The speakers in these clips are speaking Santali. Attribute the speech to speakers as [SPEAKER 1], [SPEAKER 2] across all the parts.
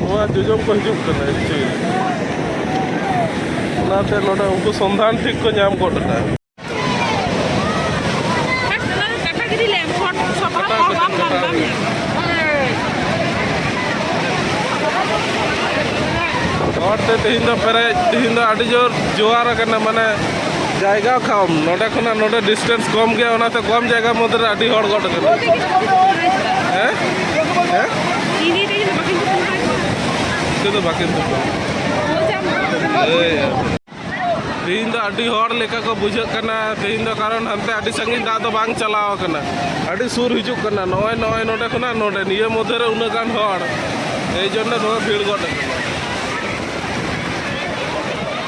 [SPEAKER 1] ᱱᱚᱣᱟ ᱡᱚᱡᱚᱢ ᱠᱚ ᱦᱤᱡᱩᱜ ᱠᱟᱱᱟ ᱮᱠᱪᱩᱭᱮᱞᱤ ᱚᱱᱟᱛᱮ ᱱᱚᱰᱮ ᱩᱱᱠᱩ ᱥᱚᱱᱫᱷᱟᱱ ᱴᱷᱤᱠ ᱠᱚ ᱧᱟᱢ ᱜᱚᱫ ᱟᱠᱟᱫᱟ ᱦᱚᱲᱛᱮ ᱛᱮᱦᱮᱧ ᱫᱚ ᱯᱮᱨᱮᱡ ᱛᱮᱦᱮᱧ ᱫᱚ ᱟᱹᱰᱤ ᱡᱳᱨ ᱡᱳᱣᱟᱨ ᱟᱠᱟᱱᱟ ᱢᱟᱱᱮ ᱡᱟᱭᱜᱟ ᱠᱚᱢ ᱱᱚᱰᱮ ᱠᱷᱚᱱᱟᱜ ᱱᱚᱰᱮ ᱰᱤᱥᱴᱮᱱᱥ ᱠᱚᱢ ᱜᱮᱭᱟ ᱚᱱᱟᱛᱮ ᱠᱚᱢ ᱡᱟᱭᱜᱟ ᱢᱚᱫᱽᱫᱷᱮ ᱨᱮ ᱟᱹᱰᱤ ᱦᱚᱲ ᱜᱚᱴ ᱠᱟᱱᱟ ᱦᱮᱸ ᱦᱮᱸ ᱪᱮᱫ ᱫᱚ ᱵᱟᱹᱠᱤᱱ ᱛᱮᱦᱮᱧ ᱫᱚ ᱟᱹᱰᱤ ᱦᱚᱲ ᱞᱮᱠᱟ ᱠᱚ ᱵᱩᱡᱷᱟᱹᱜ ᱠᱟᱱᱟ ᱛᱮᱦᱮᱧ ᱫᱚ ᱠᱟᱨᱚᱱ ᱦᱟᱱᱛᱮ ᱟᱹᱰᱤ ᱥᱟᱺᱜᱤᱧ ᱫᱟᱜ ᱫᱚ ᱵᱟᱝ ᱪᱟᱞᱟᱣ ᱟᱠᱟᱱᱟ ᱟᱹᱰᱤ ᱥᱩᱨ ᱦᱤᱡᱩᱜ ᱠᱟᱱᱟ ᱱᱚᱜᱼᱚᱭ ᱱᱚᱜᱼᱚᱭ ᱱᱚᱰᱮ ᱠᱷᱚᱱᱟᱜ ᱱᱚᱰᱮ ᱱᱤᱭᱟᱹ ᱢᱚᱫᱽᱫᱷᱮ ᱨᱮ ᱩᱱᱟᱹᱜ ᱜᱟᱱ ᱦᱚᱲ ᱮᱭ ᱡᱚᱱᱱᱚ ᱱᱚᱣᱟ ᱵᱷᱤᱲ ᱜᱚᱫ ᱟᱠᱟᱱᱟ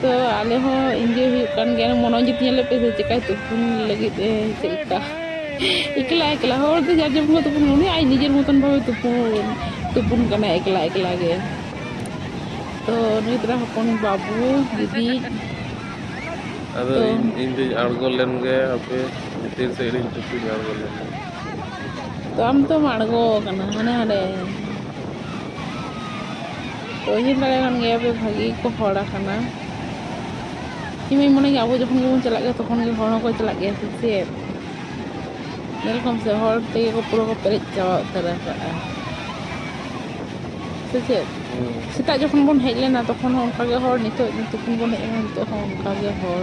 [SPEAKER 1] ᱛᱚ ᱟᱞᱮ ᱦᱚᱸ ᱤᱱᱡᱚᱭ ᱦᱩᱭᱩᱜ ᱠᱟᱱ ᱜᱮᱭᱟ ᱢᱚᱱᱚ ᱡᱩᱛ ᱧᱮᱞ ᱞᱮᱯᱮ ᱥᱮ ᱪᱮᱠᱟᱭ ᱛᱩᱯᱩᱱ ᱞᱟᱹᱜᱤᱫ ᱮ ᱪᱮᱫ ᱞᱮᱠᱟ ᱮᱠᱞᱟ ᱮᱠᱞᱟ ᱦᱚᱲ ᱫᱚ ᱡᱟᱨ ᱡᱮᱢᱚᱱ ᱠᱚ ᱛᱩᱯᱩᱱ ᱩᱱᱤ ᱟᱡ ᱱᱤᱡᱮᱨ ᱢᱚᱛᱚᱱ ᱵᱷᱟᱵᱮ ᱛᱩᱯᱩᱱ ᱛᱩᱯᱩᱱ ᱠᱟᱱᱟᱭ ᱮᱠᱞᱟ ᱮᱠᱞᱟ ᱜᱮ ᱛᱚ ᱱᱩᱭ ᱛᱚᱨᱟ ᱦᱚᱯᱚᱱ ᱵᱟᱹᱵᱩ ᱫᱤᱫᱤ ᱟᱫᱚ ᱛᱚ ᱤᱧ ᱤᱧ ᱫᱩᱧ ᱟᱬᱜᱚ ᱞᱮᱱ ᱜᱮ ᱦᱟᱯᱮ ᱵᱷᱤᱛᱤᱨ ᱥᱮᱫ ᱨᱤᱧ ᱛᱩᱯᱩᱧ ᱟᱬᱜᱚ ᱞᱮᱱ ᱜᱮ ᱛᱚ ᱟᱢ ᱛᱚᱢ ᱟᱬᱜᱚ ᱠᱟᱱᱟ ᱦᱟᱱᱮ ᱦᱟᱸᱰᱮ ᱩᱭᱦᱟᱹᱨ ᱫᱟᱲᱮᱭᱟᱜ ᱠᱟᱱ ᱜᱮᱭᱟ ᱯᱮ ᱵᱷᱟᱹᱜᱤ ᱜᱮᱠᱚ ᱦᱚᱲ ᱟᱠᱟᱱᱟ ᱤᱧ ᱢᱟᱧ ᱢᱚᱱᱮ ᱜᱮᱭᱟ ᱟᱵᱚ ᱡᱚᱠᱷᱚᱱ ᱜᱮᱵᱚᱱ ᱪᱟᱞᱟᱜ ᱜᱮᱭᱟ ᱛᱚᱠᱷᱚᱱ ᱜᱮ ᱦᱚᱲ ᱦᱚᱸᱠᱚ ᱪᱟᱞᱟᱜ ᱜᱮᱭᱟ ᱥᱮ ᱪᱮᱫ ᱧᱮᱞ ᱠᱚᱢ ᱥᱮ ᱦᱚᱲ ᱛᱮᱜᱮ ᱠᱚ ᱯᱩᱨᱟᱹ ᱠᱚ ᱯᱮᱨᱮᱡ ᱪᱟᱵᱟ ᱩᱛᱟᱹᱨ ᱟᱠᱟᱫᱼᱟ ᱥᱮ ᱪᱮᱫ ᱥᱮᱛᱟᱜ ᱡᱚᱠᱷᱚᱱ ᱵᱚᱱ ᱦᱮᱡ ᱞᱮᱱᱟ ᱛᱚᱠᱷᱚᱱ ᱦᱚᱸ ᱚᱱᱠᱟᱜᱮ ᱦᱚᱲ ᱱᱤᱛᱚᱜ ᱛᱤᱠᱤᱱ ᱵᱚᱱ ᱦᱮᱡ ᱮᱱᱟ ᱱᱤᱛᱚᱜ ᱦᱚᱸ ᱚᱱᱠᱟᱜᱮ ᱦᱚᱲ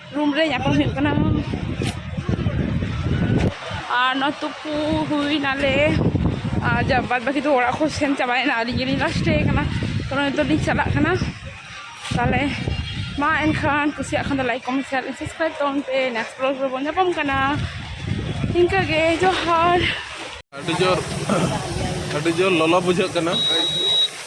[SPEAKER 1] ᱨᱩᱢ ᱨᱮ ᱧᱟᱯᱟᱢ ᱦᱩᱭᱩᱜ ᱠᱟᱱᱟ ᱟᱨ ᱱᱚᱣᱟ ᱛᱩᱯᱩ ᱦᱩᱭᱱᱟᱞᱮ ᱟᱨ ᱡᱟ ᱵᱟᱫ ᱵᱟᱹᱠᱤ ᱫᱚ ᱚᱲᱟᱜ ᱠᱚ ᱥᱮᱱ ᱪᱟᱵᱟᱭᱮᱱᱟ ᱟᱹᱞᱤᱧ ᱜᱮᱞᱤᱧ ᱞᱟᱥᱴᱮ ᱠᱟᱱᱟ ᱛᱚ ᱱᱤᱛᱚᱜ ᱞᱤᱧ ᱪᱟᱞᱟᱜ ᱠᱟᱱᱟ ᱛᱟᱦᱚᱞᱮ ᱢᱟ ᱮᱱᱠᱷᱟᱱ ᱠᱩᱥᱤᱭᱟᱜ ᱠᱷᱟᱱ ᱫᱚ ᱞᱟᱭᱤᱠ ᱠᱚᱢᱮᱱᱴ ᱥᱮᱭᱟᱨ ᱥᱟᱵᱥᱠᱨᱟᱭᱤᱵ ᱛᱟᱵᱚᱱ ᱯᱮ ᱱᱮᱠᱥᱴ ᱵᱞᱚᱜ ᱨᱮᱵᱚᱱ ᱧᱟᱯᱟᱢ ᱠᱟᱱᱟ ᱤᱱᱠᱟᱹᱜᱮ ᱡᱚᱦᱟᱨ ᱟᱹᱰᱤ ᱡᱳᱨ ᱟᱹᱰᱤ ᱡᱳᱨ ᱞᱚᱞᱚ ᱵᱩᱡᱷᱟᱹᱜ ᱠᱟᱱᱟ